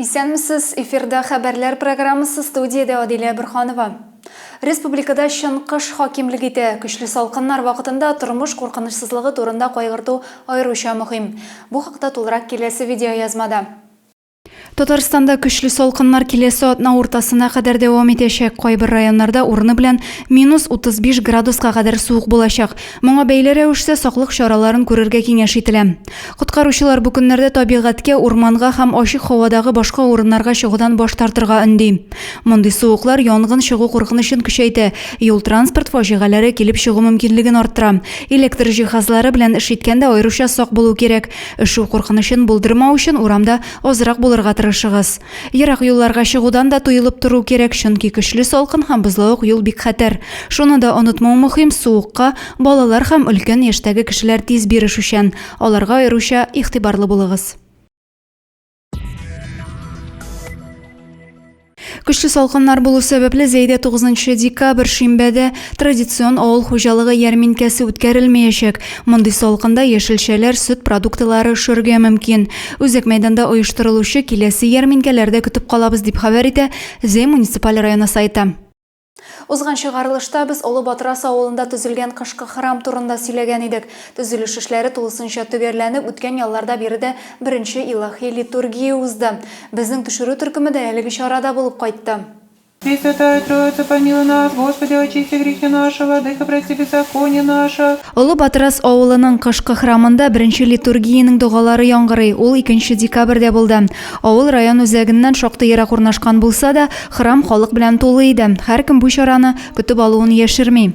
Исәнмесез, эфирда хәбәрләр программасы студиядә Адилә Бөрханова. Республикада чын кыш хакимлек итә. Көчле салкыннар вакытында тормыш куркынычсызлыгы турында кайгырту аеруча мөһим. Бу хакта тулырак киләсе видеоязмада. Татарстанда көчле салкыннар киләсе атна уртасына кадәр дәвам итәчәк. Кайбер районнарда урыны белән минус 35 градуска кадәр суык булачак. Моңа бәйле рәвештә саклык чараларын күрергә киңәш ителә. Коткаручылар бу көннәрдә табигатькә, урманга һәм ачык һавадагы башка урыннарга чыгудан баш тартырга өнди. Мондый суыклар янгын чыгу куркынычын көчәйтә, юл-транспорт фаҗигаләре килеп чыгу мөмкинлеген арттыра. Электр җиһазлары белән эш иткәндә аеруча сак булу кирәк. Өшү куркынычын булдырмау өчен урамда азрак булырга тырышыгыз. Ерак юлларга чыгудан да туелып тору кирәк, чөнки көчле салкын һәм бозлавык юл бик хәтәр. Шуны да онытмау мөһим, суыкка балалар һәм өлкән яшьтәге кешеләр тиз бирешүчән, аларга аеруча игътибарлы булыгыз. Көчле салкыннар булу сәбәпле, Зәйдә 9 нчы декабрь, шимбәдә, Традицион авыл хуҗалыгы ярминкәсе үткәрелмәячәк. Мондый салкында яшелчәләр, сөт продуктлары өшәргә мөмкин. Үзәк мәйданда оештырылучы киләсе ярминкәләрдә көтеп калабыз, дип хәбәр итә Зәй муниципаль районы сайты. Узган чыгарылышта без Олы Батрас авылында төзелгән кышкы храм турында сөйләгән идек. Төзелеш эшләре тулысынча төгәлләнеп, үткән ялларда биредә беренче илаһи литургия узды. Безнең төшерү төркеме дә әлеге чарада булып кайтты. Пресвятая Троица, помилуй нас, Господи, очисти грехи наши, Владыко, прости беззаконие наше. Олы Батырас авылының кышкы храмында беренче литургиянең догалары яңгырый, ул икенче декабрьдә булды. Авыл район үзәгеннән шактый ерак урнашкан булса да, храм халык белән тулы иде, һәркем бу чараны көтеп алуын яшерми.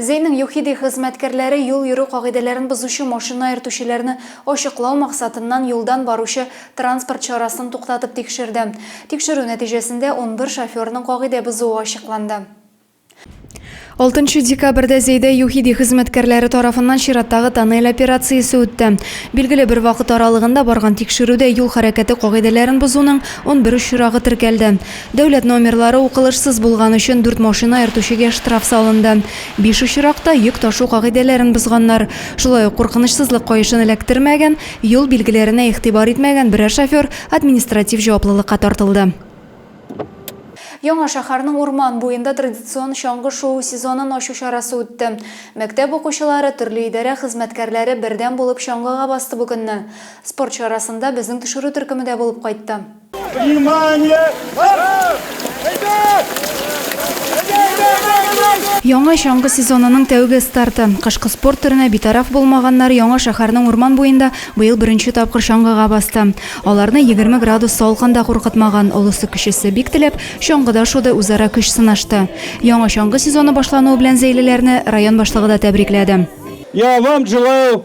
Зейның ЮХИДИ хезмәткәрләре юл йөрү кагыйдәләрен бозучы машина йөртүчеләрне ачыклау максатыннан юлдан баручы транспорт чарасын туктатып тикшерде. Тикшерү нәтиҗәсендә унбер шоферның кагыйдә бозуы ачыкланды. Алтынчы декабрьдә Зейда ЮХИДИ хезмәткәрләре тарафыннан чираттагы тоннель операциясе үтте. Билгеле бер вакыт аралыгында барган тикшерүдә юл хәрәкәте кагыйдәләрен бозуның унбер очрагы теркәлде. Дәүләт номерлары укылышсыз булган өчен дүрт машина йөртүчегә штраф салынды. Биш очракта йөк ташу кагыйдәләрен бозганнар. Шулай ук куркынычсызлык каешын эләктермәгән, юл билгеләренә игътибар итмәгән берәр шофер административ җаваплылыкка тартылды. Яңа шәһәрнең урман буенда традицион чаңгы шуу сезонын ачу чарасы үтте. Мәктәп укучылары, төрле идарә хезмәткәрләре бердәм булып чаңгыга басты бу көнне. Спорт чарасында безнең төшерү төркеме дә булып кайтты. Яңа чаңгы сезонының тәүге старты. Кышкы спорт төренә битараф булмаганнар Яңа шәһәрнең урман буенда быел беренче тапкыр чаңгыга басты. Аларны 20 градус салкын да куркытмаган, олысы-кечесе бик теләп, чаңгыда шуды, үзара көч сынашты. Яңа чаңгы сезоны башлануы белән зәйлеләрне район башлыгы да тәбрикләде. Я вам желаю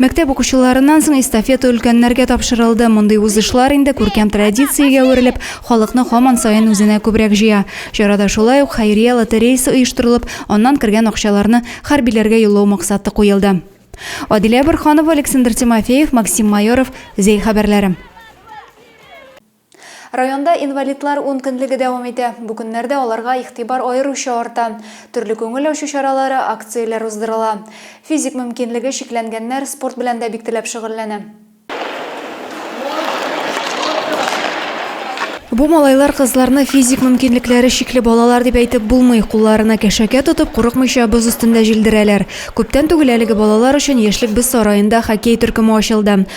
Мәктәп укучыларыннан соң эстафета өлкәннәргә тапшырылды. Мондый узышлар инде күркәм традициягә әверелеп, халыкны һаман саен үзенә күбрәк җыя. Чарада шулай ук хәйрия лотереясы оештырылып, аннан кергән акчаларны хәрбиләргә юллау максаты куелды. Адилә Борһанова, Александр Тимофеев, Максим Майоров, Зәй хәбәрләре. Районда инвалидлар ункөнлеге дәвам итә. Бу көннәрдә аларга игътибар аеруча арта. Төрле күңел ачу чаралары, акцияләр уздырыла. Физик мөмкинлеге чикләнгәннәр спорт белән дә бик теләп шөгыльләнә. Бу малайлар-кызларны физик мөмкинлекләре чикле балалар дип әйтеп булмый. Кулларына кәшәкә тотып, курыкмыйча боз өстендә җилдерәләр. Күптән түгел әлеге балалар өчен Яшьлек без сараенда хоккей төркеме ачылды.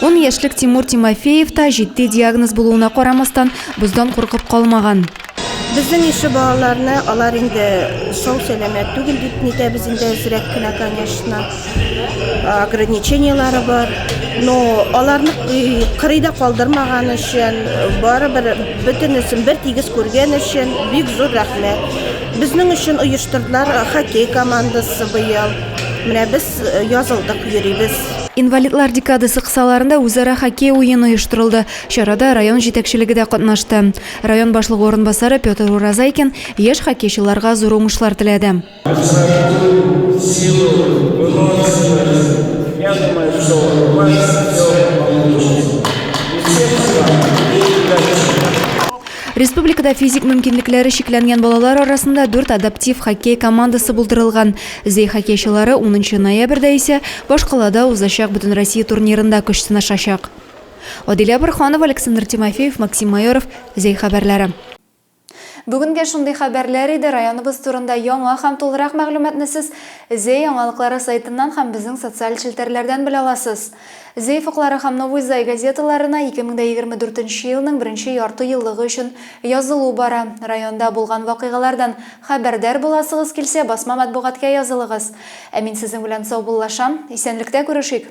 Он яшьлек Тимур Тимофеев та җитди диагноз булуына карамастан, боздан куркып калмаган. Безнең ише балаларны алар инде сау сәламәт түгел дип нитәбез инде әзрәк кенә, конечно. Ограничениелары бар. Но аларны кырыйда калдырмаган өчен, барыбер бөтенесен бер тигез күргән өчен бик зур рәхмәт. Безнең өчен оештырдылар хоккей командасы быел. Менә без язылдык, йөрибез. Инвалидлар декадасы кысаларында үзара хоккей уены оештырылды. Чарада район җитәкчелеге дә катнашты. Район башлыгы урынбасары Петр Уразайкин яшь хоккейчыларга зур уңышлар теләде. Республикада физик мөмкинлекләре чикләнгән балалар арасында дүрт адаптив хоккей командасы булдырылган. Зәй хоккейчылары унынчы ноябрьдә исә башкалада узачак Бөтенроссия турнирында көч сынашачак. Адилә Борһанова, Александр Тимофеев, Максим Майоров, Зәй хәбәрләре. Бүгенгә шундый хәбәрләр иде. Районыбыз турында яңа һәм тулырак мәгълүматны сез Зәй яңалыклары сайтыннан һәм безнең социаль челтәрләрдән белә аласыз. Зәй фыклары һәм Новый Зай газеталарына 2024 нче елның беренче ярты еллыгы өчен язылу бара. Районда булган вакыйгалардан хәбәрдар буласыгыз килсә, басма матбугатка язылыгыз. Ә мин сезнең белән саубуллашам. Исәнлектә күрешик!